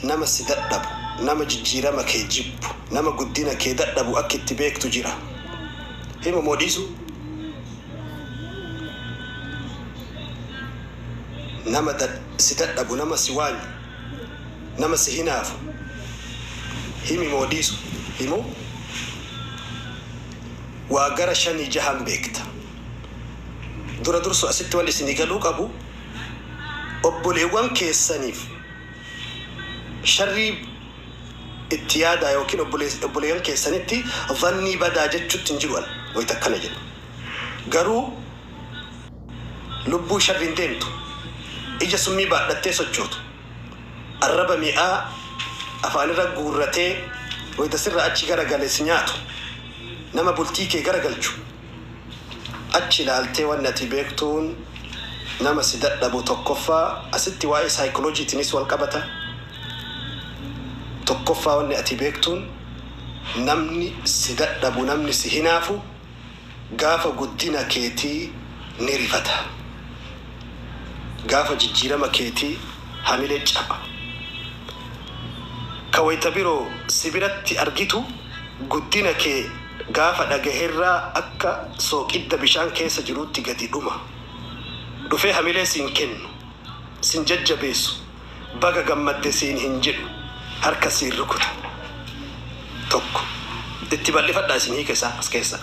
Nama si dadhabu, nama jijjiirama kee jibbu, nama guddina kee dadhabu akki itti beektu jira. Himu moo dhiisu? Nama si dadhabu, nama si waanyu, nama si hinaafu himi moo dhiisu? Himu? Waa gara shanii jahan beekta. Dura dursu asitti wan isinii galuu qabu, obboleewwan keessaniif. sharrii itti yaadaa ykn obbolees obboleeyyan keessanitti dhannii badaa jechutti hin jiru an wayta akkana jedhu. Garuu lubbuu sharriin deemtu, ija summii baadhattee sochootu, arraba mi'aa afaanirra guurratee wayta sirraa achi gara gale si nyaatu, nama bultii kee gara galchu, Achi ilaaltee wanni ati beektuun nama si dadhabu tokkoffaa asitti waa'ee psychology'tinis wal qabata. Tokkoffaa wanni ati beektuun namni si dadhabu namni si hinaafu gaafa guddina keetii ni rifata. Gaafa jijjiirama keetii hamilee caba. Ka wayta biroo si biratti argitu guddina kee. Gaafa dhagaherraa akka sooqidda bishaan keessa jiruutti gadi dhuma. Dhufee hamilee siin kennu, sin jajjabeessu, baga gammadde siin hin jedhu, harka siin rukutu. 1, Itti bal'ifadhaa isin hiika isaa as keessa.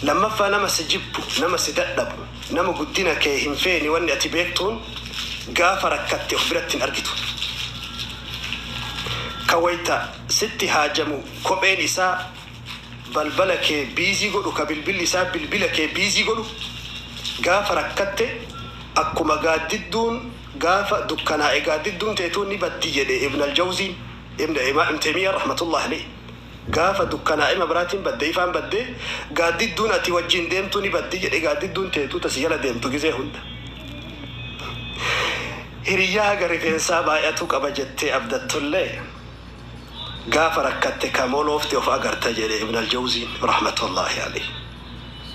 2ffaa nama si jibbu, nama si dadhabu, nama guddina kee hin feene wanni ati beektuun gaafa rakkatte of biratti hin argitu. Ka wayta sitti haajamu kopheen isaa balbala kee biizii godhu ka bilbilli isaa bilbila kee biizii godhu gaafa rakkatte akkuma gaaddidduun gaafa dukkanaa'e gaaddidduun teetuu ni baddi jedhe ibn aljawziin ibn ibn teymiyaan rahmatullahi aleyh gaafa dukkanaa'e mabraatiin badde ifaan badde gaaddidduun ati wajjiin deemtu ni baddi jedhe gaaddidduun teetuu ta si jala deemtu gizee hunda hiriyyaa haga rifeensaa baay'atu qaba jettee abdattullee Gaafa rakkatte ka moloofte of agarta jedhe Ibn Al-Jawziin rahmatullaahi aleyh.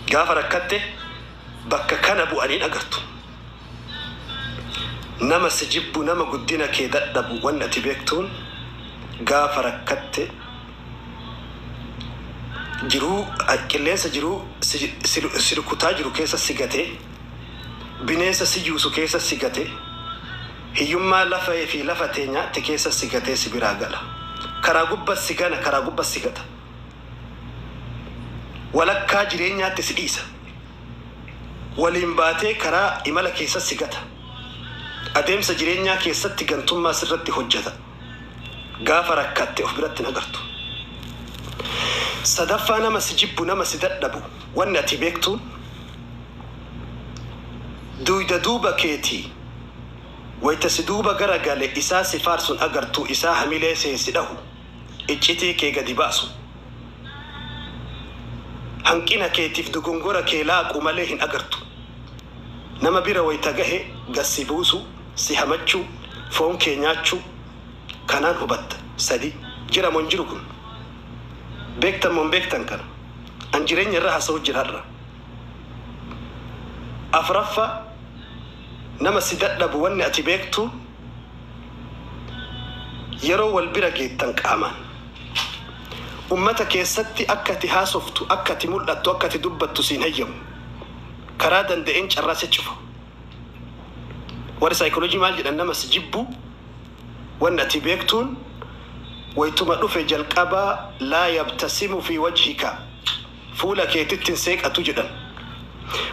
Gaafa rakkatte bakka kana bu'an hin agartu. Nama si jibbu, nama guddina kee dadhabu wanni ati beektuun gaafa rakkatte jiruu, qilleensa jiruu si rukutaa jiru keessa si gate, bineensa si juusu keessa si gate, Hiyyummaa lafa fi lafa teenya ti keessa si gatee si biraa gala. Karaa gubba si gana karaa gubba si gata. Walakkaa jireenyaatti si dhiisa. Waliin baatee karaa imala keessa si gata. Adeemsa jireenyaa keessatti gantummaa sirratti hojjata. Gaafa rakkatte of biratti hin agartu. Sadaffaa nama si jibbu nama si dadhabu wanni ati beektuun duuyda duuba keetii. Wayta si duuba gara gale isaa si faarsun agartu isaa hamilee see si dhahu iccitii kee gadi baasu hanqina keetif dogongora kee laaqu malee hin agartu nama bira wayta gahe gad si buusu si hamachu foon kee nyaachu kanaan hubatta 3 jira mo hin jiru kun beektan mo hin beektan kana an jireenya irra hasahu jira har'a 4ffaa Nama si dadhabu wanni ati beektu yeroo wal bira geettan qaamaan Ummata keessatti akka ati haasoftu, akka ati mul'attu, akka ati dubbattu si hin hayyamu. Karaa danda'een carraa si cufa. Warri psychology maal jedhan nama si jibbu wanni ati beektuun waytuma dhufe jalqaba laa yabtasimu fi wajhika fuula keetitti hin seeqatu jedhan.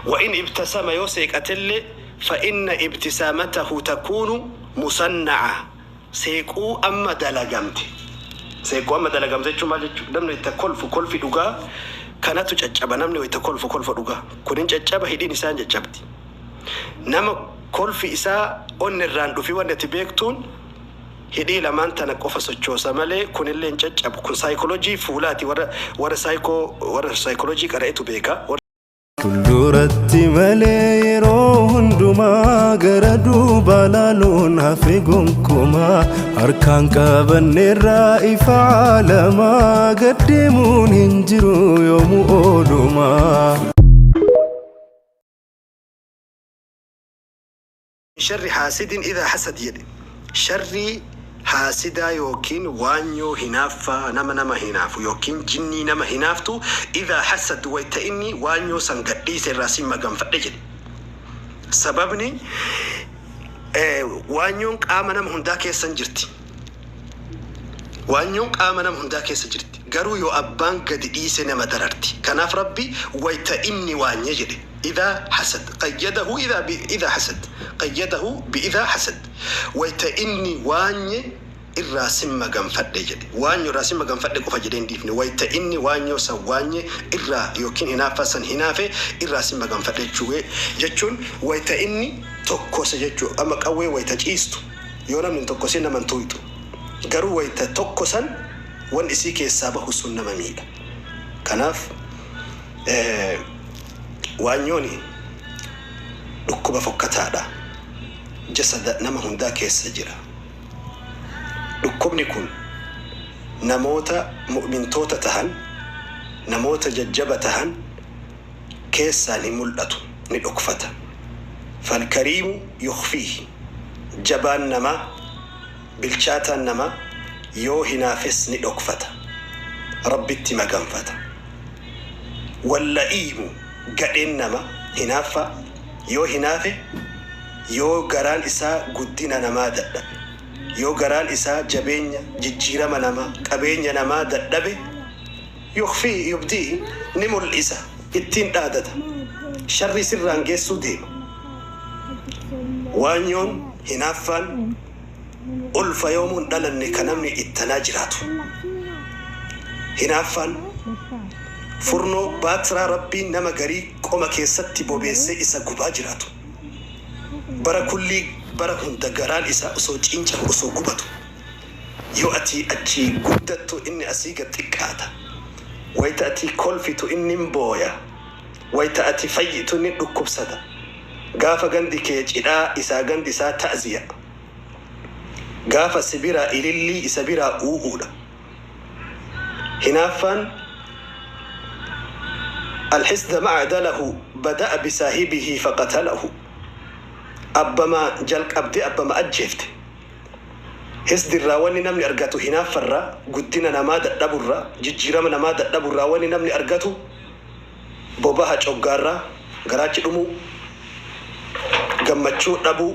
Wa in ibtasama yoo seeqatellee fa inna ibtisaamatahu takuunu musanna'a seequu amma dalagamte. Seeqquu amma dalagamte jechuun maal jechuudha? Namni wayita kolfu kolfi dhugaa kanatu caccaba namni wayita kolfu kolfa dhugaa kun hin caccaba hidhiin isaa hin caccabdi. Nama kolfi isaa onnerraan dhufi wanni ati beektuun. Hidhii lamaan tana qofa sochoosa malee kunillee hin caccabu. Kun saaykolojii fuulaati warra warra saayikoo warra saaykolojii qara'etu beeka. Fulduratti malee yeroo hundumaa gara duubaa laaluun hafe gonkumaa harkaan qabanneerraa ifa aalamaa gad deemuun hin jiru yoomu oolumaa. Min sharri haasidin idha hasad jedhe sharrii haasidaa ykn waanyoo hinaaffaa nama nama hinaafu ykn jinnii nama hinaaftu idha hasad wayta inni waanyoo san gad dhiise irraa sin maganfadhe jedhe sababni waanyoon qaama nama hundaa keessan jirti Waanyoon qaama nama hundaa keessa jirti. Garuu yoo abbaan gadi dhiise nama dararti. Kanaaf Rabbi wayta inni waanye jedhe, Idhaa hasad qayyadahu idhaa bi idhaa hasad qayyadahu bi idhaa hasad Wayta inni waanye irraa sin maganfadhe jedhe. Waanyo irraa sin maganfadhe qofa jedhee hin dhiifne. Wayta inni waanyoo san waanye irraa ykn hinaaffaa san hinaafe irraa sin maganfadhe jechuu. Jechuun wayta inni tokkose jechuu. Amma qawween wayta ciistu. Yoo namni hin tokkosin nama hin tuuyxu. Garuu wayta tokkosan wan isii keessaa bahu sun nama miidha. Kanaaf waanyooni dhukkuba fokkataadha. Jasada nama hundaa keessa jira. Dhukkubni kun namoota mu'mintoota tahan, namoota jajjaba tahan, keessaa ni mul'atu, ni dhokfata. Falkariimu yukhfiihi, jabaan namaa, bilchaataan namaa, yoo hinaafes ni dhokfata. Rabbitti maganfata. Walla'iimu, gadheen namaa, hinaaffaa, yoo hinaafe, yoo garaan isaa guddina namaa dadhabe, yoo garaan isaa jabeenya, jijjiirama namaa, qabeenya namaa dadhabe, Yukhfii, yubdii, ni mul'isa, ittiin dhaadata. Sharrii sirraan geessuu deema. Waanyoon, hinaaffaan, ulfa yoomuu hin dhalanne ka namni ittanaa jiraatu. Hinaaffaan, furnoo, baatraa Rabbiin nama garii qoma keessatti bobeessee isa gubaa jiraatu. Bara kullii, bara hunda garaan isaa osoo ciincahu, osoo gubatu. Yoo ati achii guddattu inni asii gad xiqqaata. Wayta ati kolfitu inni hin booya. Wayta ati fayyitu inni dhukkubsata. Gaafa gandi kee cidhaa isaa gandi isaa ta'ziya. Gaafa si biraa ilillii isa biraa uu'uudha. Hinaaffaan Al-hisda ma'a dalahu bada'a bisaahibihi faqatalahu. Abbama jalqabdee abbama ajjeefte. Hsd irraa wanni namni argatu hinaaffa irraa, guddina namaa dadhabu irraa, jijjiirama namaa dadhabu irraa wanni namni argatu bobaha coggaarraa, garaachi dhumuu, gammachuu dhabuu,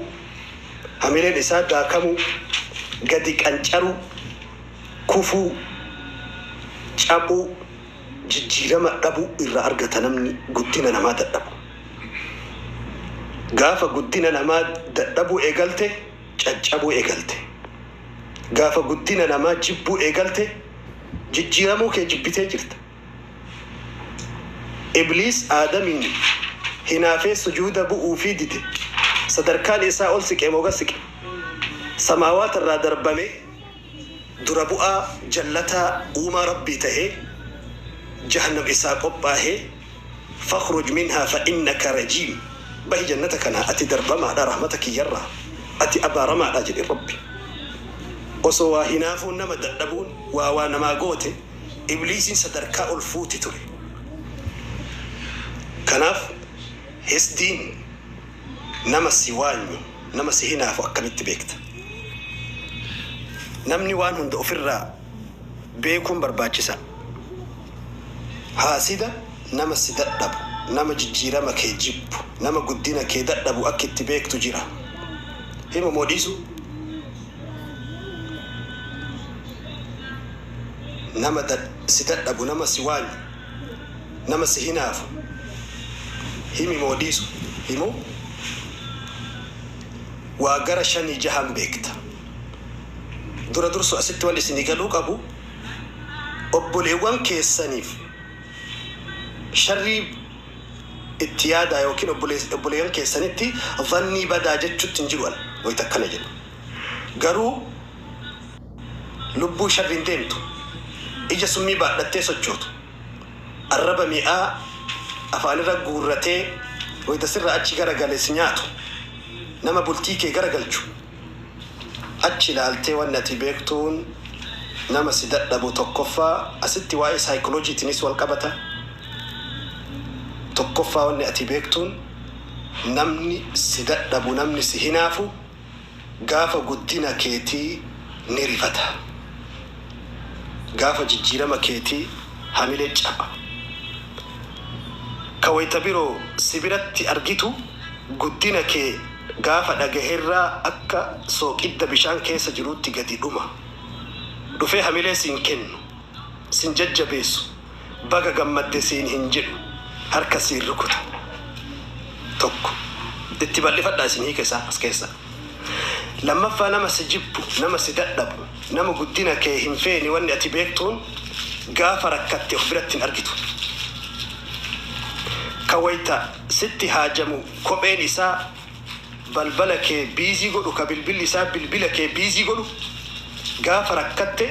hamileen isaa daakamuu, gadi qancaruu, kufuu, caphuu, jijjiirama dhabuu irraa argata namni guddina namaa dadhabu. Gaafa guddina namaa dadhabuu eegalte, caccabuu eegalte. Gaafa guddina namaa jibbuu eegalte jijjiiramuu kee jibbitee jirta. Ibliis Aadamiin hinaafee sujuuda bu'uufii dide. Sadarkaan isaa ol siqee moo gad siqe? Samaawaata irraa darbamee. dura bu'aa jallataa uumaa Rabbii tahee jahannam isaa qophaahee fakhruj minhaa fa innaka rajiim bahi jannata kanaa ati darbamaadha rahmata kiyyarraa ati abaaramaadha jedhe Rabbi osoo waa hinaafuun nama dadhabuun waa waa namaa goote ibliisiin sadarkaa ol fuuti ture kanaaf hisdiin Nama si waanyu, nama si hinaafu akkamitti beekta? Namni waan hunda ofirraa beekuun barbaachisaa dha. Haasida nama si dadhabu, nama jijjiirama kee jibbu, nama guddina kee dadhabu akki itti beektu jira. Himu moo dhiisu? Nama si dadhabu, nama si waanyu. nama si hinaafu himi moo dhiisu himu waa gara shanii jahan beekta dura dursu asitti wan isini galuu qabu obboleewwan keessaniif sharrii itti yaadaa yookiin obboleeyyan keessanitti dhannii badaa jechutti hin jiru an wayta akkana jedhu garuu Lubbuu sharriin deemtu, ija summii baadhattee sochootu, arraba mi'aa afaanirra guurratee wayita sirraa achi garagale si nyaatu, nama bultii kee garagalchu, achi ilaaltee wanni ati beektuun nama si dadhabu tokkoffaa asitti waa'ee saayikolojiitiinis walqabata, tokkoffaa wanni ati beektuun namni si dadhabu, namni si hinaafu Gaafa guddina keetii ni rifata. Gaafa jijjiirama keetii hamilee caba. Ka wayta biro si biratti argitu guddina kee gaafa dhagaherraa akka sooqidda bishaan keessa jiruutti gadi dhuma. Dhufee hamilee siin kennu sin jajjabeessu baga gammadde siin hin jedhu harka siin rukuta tokko itti bal'ifadhaa isin hiika isaa as keessaa lammaffaa nama si jibbu nama si dadhabu nama guddina kee hin feene wanni ati beektuun gaafa rakkatte of biratti hin argitu ka wayta sitti haajamu kopheen isaa balbala kee biizii godhu ka bilbilli isaa bilbila kee biizii godhu gaafa rakkatte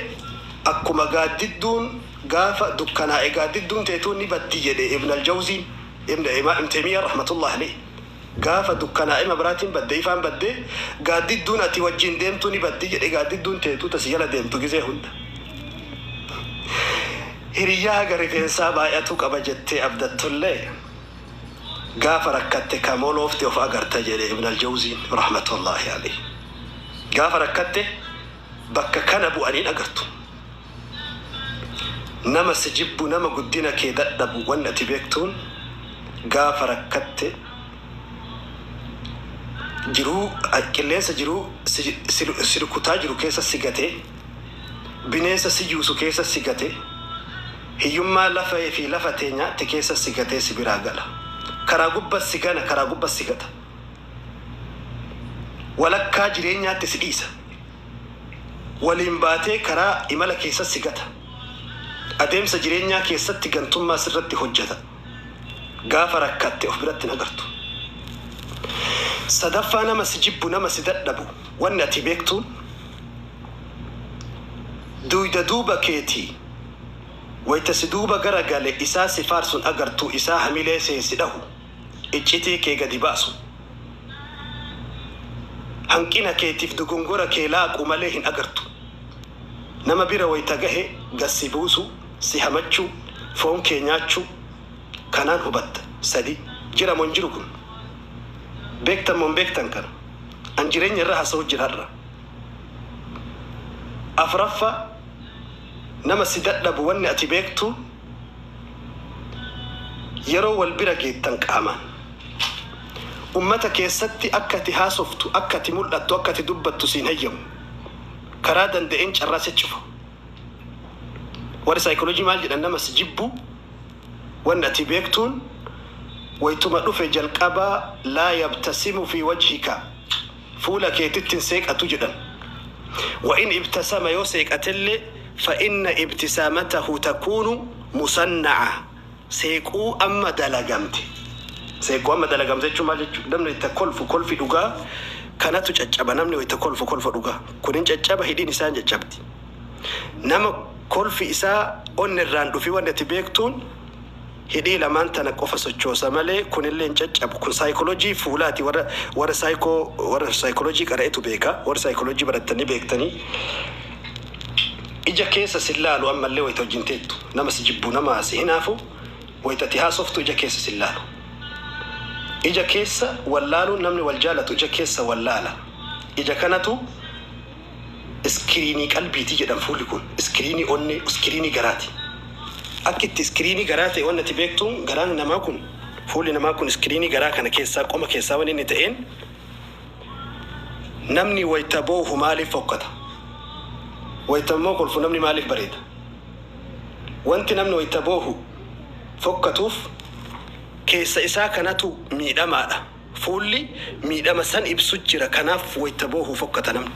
akkuma gaaddidduun gaafa dukkanaa'e gaaddidduun teetuu ni baddi jedhe ibn aljawziin ibn ibn teymiyya rahmatullahi aleyh gaafa dukkanaa'e mabraatiin badde ifaan badde gaaddidduun ati wajjiin deemtuu ni baddi jedhe gaaddidduun teetuu ta si jala deemtu gizee hunda hiriyyaa haga rifeensaa baay'atu qaba jettee abdattullee Gaafa rakkatte ka moloofte of agarta jedhe Ibn Al-Jawziin rahmatullaahi aleyh. Gaafa rakkatte bakka kana bu'an hin agartu. Nama si jibbu, nama guddina kee dadhabu wanni ati beektuun gaafa rakkatte jiruu, qilleensa jiruu si rukutaa jiru keessa si gate, bineensa si juusu keessa si gate, Hiyyummaa lafa fi lafa teenya te keessa si gatee si biraa gala. Karaa gubba si gana karaa gubba si gata. Walakkaa jireenyaatti si dhiisa. Waliin baatee karaa imala keessa si gata. Adeemsa jireenyaa keessatti gantummaa sirratti hojjata. Gaafa rakkatte of biratti hin agartu. Sadaffaa nama si jibbu nama si dadhabu wanni ati beektuun duuyda duuba keeti Wayta si duuba gara gale isaa si faarsun agartu isaa hamilee see si dhahu iccitii kee gadi baasu hanqina keetif dogongora kee laaqu malee hin agartu nama bira wayta gahe gad si buusu si hamachu foon kee nyaachu kanaan hubatta 3 jira mo hin jiru kun bektan mo hin bektan kana an jirenya irra hasahu jira har'a 4ffaa nama si dadhabu wanni ati beektu yeroo wal bira geettan qaamaan ummata keessatti akka ati haasoftu akka ati mul'attu akka ati dubbattu siin heyyamu karaa danda'een carraa si cufa warri psychology maal jedhan nama si jibbu wanni ati beektuun waytuma dhufe jalqaba laa yabtasimu fi wajhika fuula keetitti hin seeqatu jedhan. Wa in ibtasama yoo seeqatellee fa inna ibtisaamatahu takuunu musanna'a seequu amma dalagamte. Seequu amma dalagamte jechuun maal jechuudha? Namni wayita kolfu kolfi dhugaa kanatu caccaba. Namni wayita kolfu kolfa dhugaa kun hin caccaba hidhiin isaa hin caccabdi. Nama kolfi isaa onnerraan dhufi wanni ati beektuun. Hidhii lamaan tana qofa sochoosa malee kunillee hin caccabu. Kun saaykolojii fuulaati warra warra saayko warra saaykolojii qara'etu beeka. Warri saaykolojii barattan ni beektanii. Ija keessa sin laalu ammallee wayita wajjin teettu. Nama si jibbu nama si hinaafu wayita ati haasoftu ija keessa sin laalu. Ija keessa wal laaluun namni wal jaalatu ija keessa wal laala. Ija kanatu. iskiriinii qalbiiti jedhan fuulli kun iskiriinii onnee uskiriinii garaati akki itti iskiriinii garaa ta'e wanni ati beektuun garaan namaa kun fuulli namaa kun iskiriinii garaa kana keessaa qoma keessaa wanni inni ta'een namni wayta boohu maaliif fokkata wayta immoo kolfu namni maaliif bareeda wanti namni wayta boohu fokkatuuf keessa isaa kanatu miidhamaadha Fuulli miidhama san ibsu jira. Kanaaf wayta boohu fokkata namni.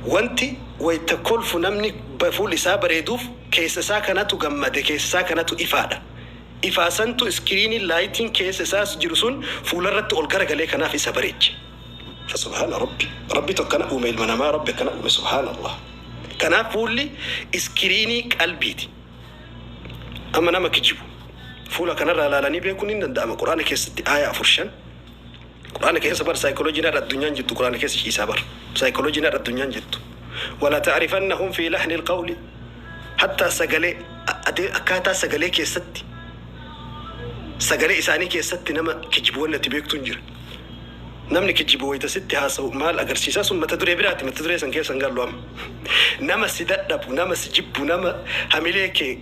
Wanti wayta kolfu namni fuulli isaa bareeduuf keessa isaa kanatu gammade, keessa isaa kanatu ifaadha. Ifaa santu iskiriiniin, laayitiin, keessa isaa jiru sun fuularratti ol garagalee kanaaf isa bareeche. Fa subhaana Rabbi. Rabbitu akkana uume ilma namaa, Rabbi akkana uume subhaanallah. Kanaaf fuulli iskiriinii qalbiiti. Amma nama kijibu fuula kanarraa ilaalanii beekuun hin danda'ama. Qur'aana keessatti aaya afur shan Qur'aana keessa bar saayikolojiin har'a addunyaan jirtu Qur'aana keessa ciisaa bar saayikolojiin har'a addunyaan jirtu wala ta'rifannahum fi lahnil qawli hattaa sagalee adee akkaataa sagalee keessatti sagalee isaanii keessatti nama kijibu wanni ati beektuun jira. Namni kijjibu wayita sitti haasa'u maal agarsiisa? Sun mata duree biraati, mata duree san keessa hin gallu amma. Nama si dadhabu, nama si jibbu, nama hamilee kee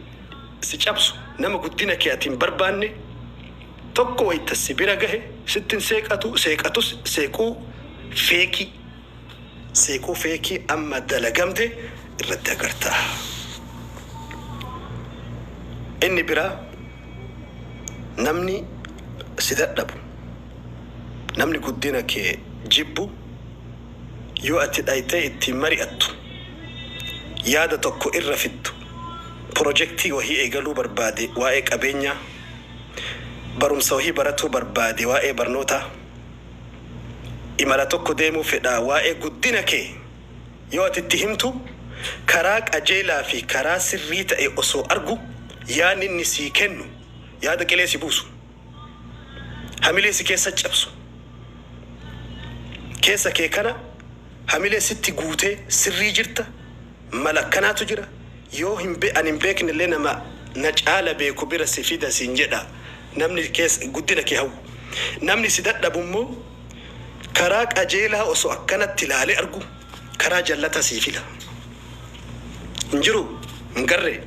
si cabsu, nama guddina kee ati hin barbaanne tokko wayita si bira gahe sitti hin seeqatu, seeqatus seequu feekii. Seekoo feekii amma dalagamte irratti agarta. Inni biraa namni si dadhabu, namni guddina kee jibbu yoo ati dhayxee ittiin mari'attu, yaada tokko irra fiddu, pirojektii wahii eegaluu barbaade waa'ee qabeenyaa, barumsa wahii baratuu barbaade waa'ee barnootaa, Imala tokko deemuu fedha. Waa'ee guddina kee yoo ati itti himtu, karaa qajeelaa fi karaa sirrii ta'e osoo argu, yaadni inni sii kennu yaada qilee si buusu, hamilee si keessa cabsu, keessa kee kana hamilee sitti guutee sirrii jirta, Mala akkanaatu jira yoo hin be an hin beekne illee nama na caala beeku bira si fida siin jedha namni kees guddina kee hawwu. Namni si dadhabu immoo karaa qajeelaa osoo akkanatti ilaalee argu karaa jallataa sii fila. Hin jiruu? Hin garree?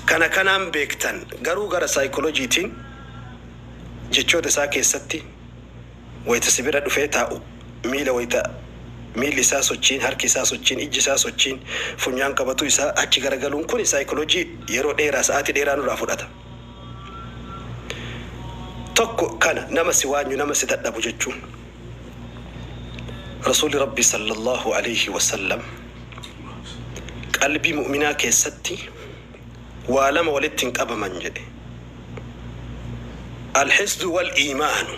Kan akanaan beektan garuu gara psychology tiin jechoota isaa keessatti. wayita si bira dhufee taa'u, miila wayita miilli isaa sochiin, harki isaa sochiin, ijji isaa sochiin, funyaan qabatuu isaa achi garagaluun kuni saayikoloojii yeroo dheeraa, sa'aatii dheeraa nurraa fudhata. Tokko kana nama si waanyu, nama si dadhabu jechuun. Rasuulli Rabbii sallallaahu aleeyhi wasallam qalbii mu'minaa keessatti. waa lama walitti hin qabaman jedhe. Alhisdu wal iimaanu,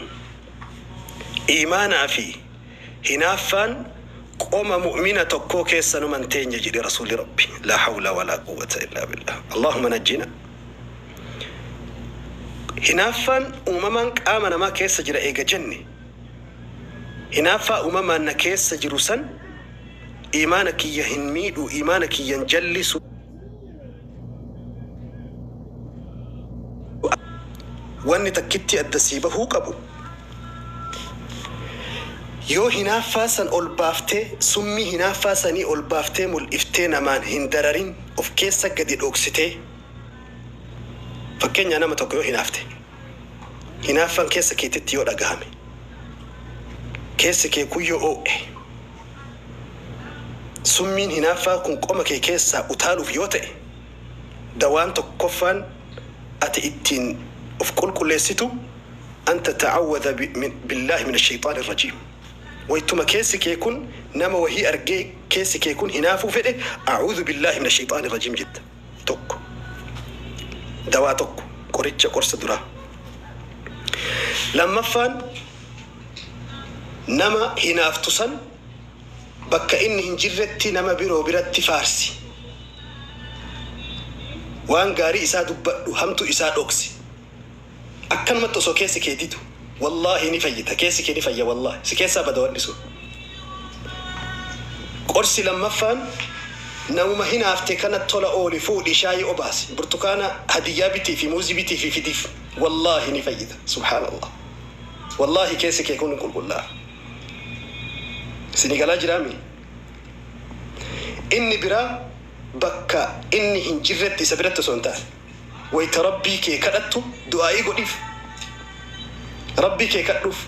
iimaanaa fi hinaaffaan qoma mu'mina tokkoo keessa numa hin teenye jedhe Rasuulli Rabbi. Laa hawla walaa quwwata illaa billaah. Allaahumma najjina. Hinaaffaan uumamaan qaama namaa keessa jira eega jenne, hinaaffaa uumamaan na keessa jiru san iimaana kiyya hin miidhu, iimaana kiyya hin jallisu, Wanni takkittii adda sii bahuu qabu, yoo hinaaffaa san ol baaftee, summii hinaaffaa sanii ol baaftee mul'iftee namaan hin dararin, of keessa gadi dhoksitee, fakkeenyaa nama tokko yoo hinaafte, hinaaffaan keessa keetitti yoo dhagahame, keessi kee kun yoo oo'e, Summiin hinaaffaa kun qoma kee keessaa utaaluuf yoo ta'e, dawaan tokkoffaan ati ittiin of qulqulleessitu an tata'awwadha billaahi mina sheyxaani rajiim. Waytuma keessi kee kun nama wahii argee keessi kee kun hinaafuu fedhe a'uudhu billaahi mina sheyxaani rajiim jetta. 1. Dawaa 1. Qoricha, qorsa, duraa. Lammaffaan. Nama hinaaftu san bakka inni hin jirretti nama biroo biratti faarsi. Waan gaarii isaa dubbadhu, hamtuu isaa dhoksi. Akkanumatti osoo keessi kee didu, wallaahi ni fayyita, keessi kee ni fayya wallaahi, si keessaa bada wanni sun. Qorsi lammaffaan, namuma hinaafte kana tola ooli, fuudhi, shaayii obaasi, burtukaana hadiyyaa bitiifi, muuzii bitiifi fidiif. Wallaahi ni fayyita. Subhaanallaah. Wallahi keessi kee kun qulqullaa. Isinii galaa jiraa mii? Inni biraa bakka inni hin jirretti isa biratti osoo hin taane wayta Rabbii kee kadhattu du'aa'ii godhiif. Rabbii kee kadhuuf.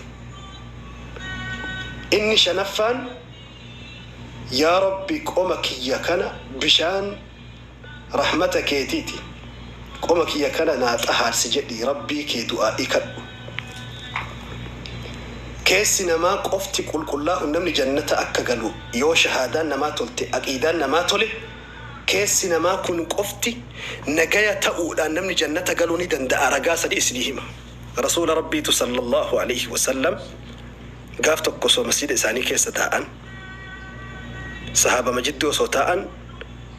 Inni shanaffaan Yaa Rabbi qoma kiyya kana bishaan. rahmata keetiti qoma kiyya kana naa xahaarsi jedhii rabbii kee du'aa'i kadhu keessi namaa qofti qulqullaa'un namni jannata akka galu yoo shahaadaan namaa tolte aqiidaan namaa tole keessi namaa kun qofti nagaya ta'uudhaan namni jannata galuu ni danda'a ragaa sadii isinii hima rasuula rabbiitu sallallaahu aleyhi wasallam gaaf tokko osoo masjiida isaanii keessa taa'an sahaabama jidduu osoo taa'an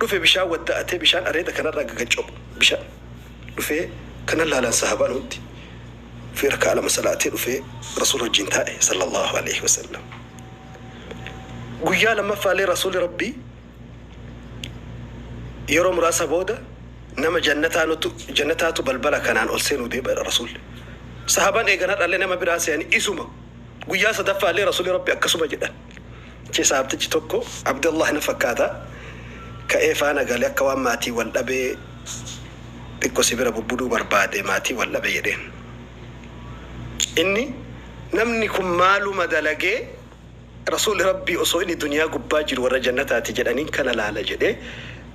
dhufe bishaan wadda'atee bishaan areeda kanarraa gagaccop bishaan dhufee kanan laalan sahaabaan hundi dhufee raka'aa lama salaatee dhufee rasuula wajjiin taa'e sallallaahu aleyhi wasallam guyyaa lammaffaalee rasuuli rabbii yeroo muraasa booda nama jannataa nutu jannataatu balbala kanaan ol seenuu deebi'adha rasuulli sahaabaan eegan har'allee nama biraa se'an isuma guyyaa sadaffaallee rasuuli rabbi akkasuma jedhan Chisaabtichi tokko Abdallaah na fakkaata, ka'ee faana gale akka waan maatii wal dhabee xiqqo si bira bubbuduu barbaade maatii wal dhabe jedheen. Inni Namni kun maaluma dalagee Rasuulli Rabbii osoo inni duniyaa gubbaa jiru warra jannataati jedhaniin kana laala jedhee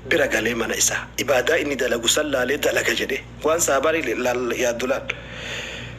bira galee mana isaa ibaadaa inni dalagu san laalee dalaga jedhee waan sahaabaan yaaddu laal.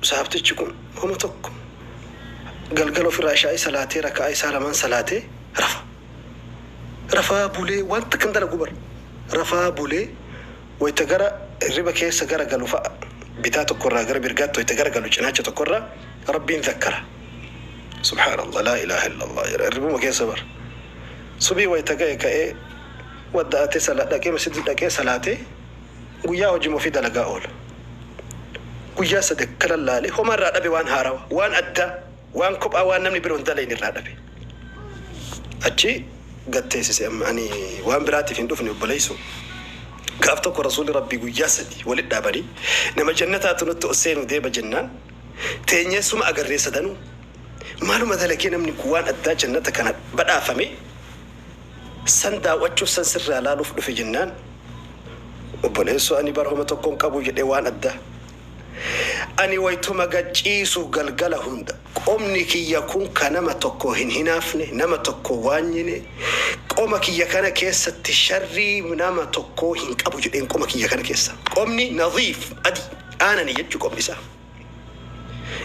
Sahaabtichi kun homa tokko galgala ofirraa ishaa'ii salaatee raka'aa isaa lamaan salaatee rafa. Rafaa bulee waan takka hin dalagu bar. Rafaa bulee wayta gara hirriba keessa gara galu fa'a bitaa tokko irraa gara mirgaatti wayta gara galu cinaacha tokko irraa Rabbiin zakkara. Subhaanallah laa ilaaha illallah jedha hirribuma keessa bar. Subii wayta gahe ka'ee wadda'atee sala dhaqee masjida dhaqee salaatee Guyyaa hojima ofii dalagaa oola. Guyyaa sade kanan laale homa irraa dhabe waan haarawa, waan addaa, waan kophaa waan namni biro hin dalayne irraa dhabe. Achi gad teesise amma ani waan biraatiif hin dhufne obboleeysoo. Gaaf tokko Rasuulli Rabbii guyyaa sadi walitti dhaabanii nama jannataatu nutti ol seenu deema jennaan teenyee suma agarree sadanuu. Maaluma dalagee namni kun waan addaa jannata kana badhaafame? San daaw'achuuf san sirraa laaluuf dhufe jennaan obboleessoo ani bar homa tokkon qabu jedhe waan adda Ani waytuma gad ciisu galgala hunda qomni kiyya kun ka nama tokko hin hinaafne nama tokko waanyine qoma kiyya kana keessatti sharrii nama tokkoo hin qabu jedheen qoma kiyya kana keessa qomni nadhiif adii aanani jechu qomni isaa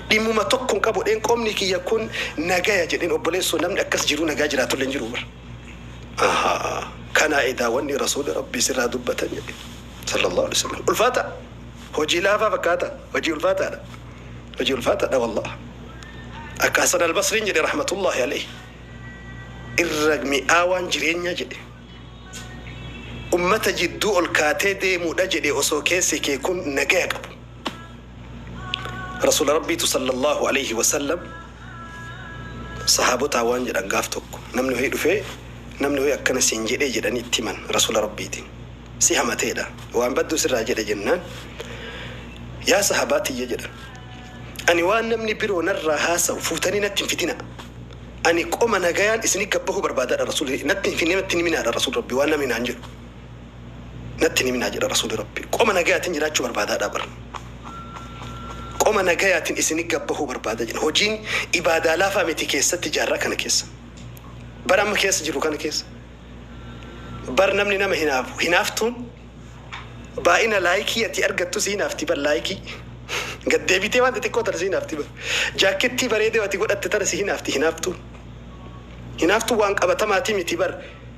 Dhimmuma tokko hin qabu jedheen qomni kiyya kun nagaya jedheen obboleessoo namni akkas jiruu nagaa jiraatullee hin jiruu bar. Ahaa kanaa edaa wanni rasuulli rabbii sirraa dubbatan jedhe sallallahu alaihi wasallam ulfaata hojii laafaa fakkaata hojii ulfaataadha hojii ulfaataadha wallah akka hasan albasriin jedhe rahmatullahi alaihi irra mi'aawaan jireenyaa jedhe ummata jidduu ol kaatee deemuudha jedhe osoo keessi kee kun nagaya qabu Rasuula Rabbiitu sallallaahu aleeyhi wasallam sahaabotaan waan jedhan gaaf tokko namni wahii dhufee namni wahii akkana siin jedhee jedhanii itti himan Rasuula Rabbiitiin. Si hamateedha. Waan badduu sirraa jedhe jennaan yaa sahaabaa tiyya jedhan. Ani waan namni biroo narraa haasawu fuutanii natti hin fidina. Ani qoma nagayaan isini gad bahuu barbaadaadha Rasuulli. Natti hin finne natti hin himinaadha Rasuul Rabbii waan namni naan jedhu. natti hin himinaa jedha rasuuli rabbii qoma nagayaatin jiraachuu barbaadaadha bar qoma nagayaatin isini gabbahuu barbaada jedha hojiin ibaadaa laafaa miti keessatti jaarraa kana keessa bar amma keessa jirru kana keessa bar namni nama hinaafu hinaaftuun baay'ina laayikii ati argattu si hinaafti bar laayikii gad deebitee waan xixiqqoo tana si hinaafti bar jaakkettii bareedee ati godhatte tana si hinaafti hinaaftuun hinaaftuun waan qabatamaatii miti bar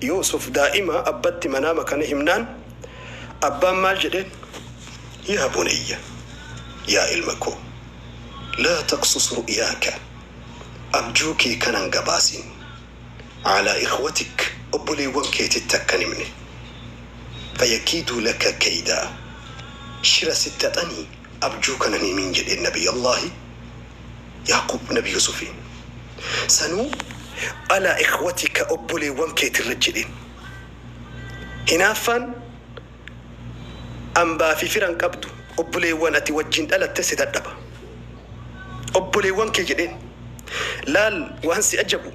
Yuusuf daa'ima abbatti manaama kana himnaan abbaan maal jedheen? Yaa bunayya, yaa ilma koo, laa taqsus ru'yaaka, abjuu kee kana hin gabaasin, alaa ikhwatik, obboleewwan keetitti akka hin himne, fayakiiduu laka kaydaa, shira sitti haxanii abjuu kana hin himiin jedheen Nabiyyallaahi. Ya'quub nabi Yuusufiin. Sanuu alaa ikhwatika obboleewwan keetirra jedheen. Hinaaffaan ambaa fi fira hin qabdu, obboleewwan ati wajjin dhalattes si dadhaba. Obboleewwan kee jedheen. Laal waan si ajabu!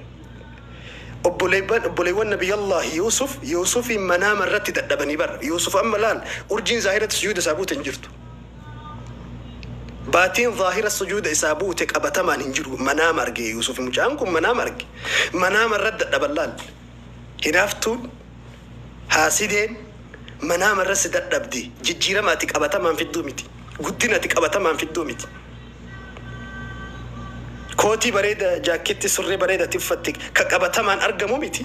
Obboleewwan obboleewwan Nabiyyallaahi Yuusuf Yuusufiin manaama irratti dadhabanii bar. Yuusuf amma laal urjiin zaahiratti sujuuda isaa buute hin jirtu. Baatiin zaahira sujuuda isaa buute qabatamaan hin jiru manaama arge yuusufi mucaan kun manaama arge manaama irra dadhaban laal hinaaftuun haasideen manaama irra si dadhabdi jijjiirama ati qabatamaan fidduu miti guddina ati qabatamaan fidduu miti kootii bareeda jaakkeetti surree bareeda ati uffatte ka qabatamaan argamu miti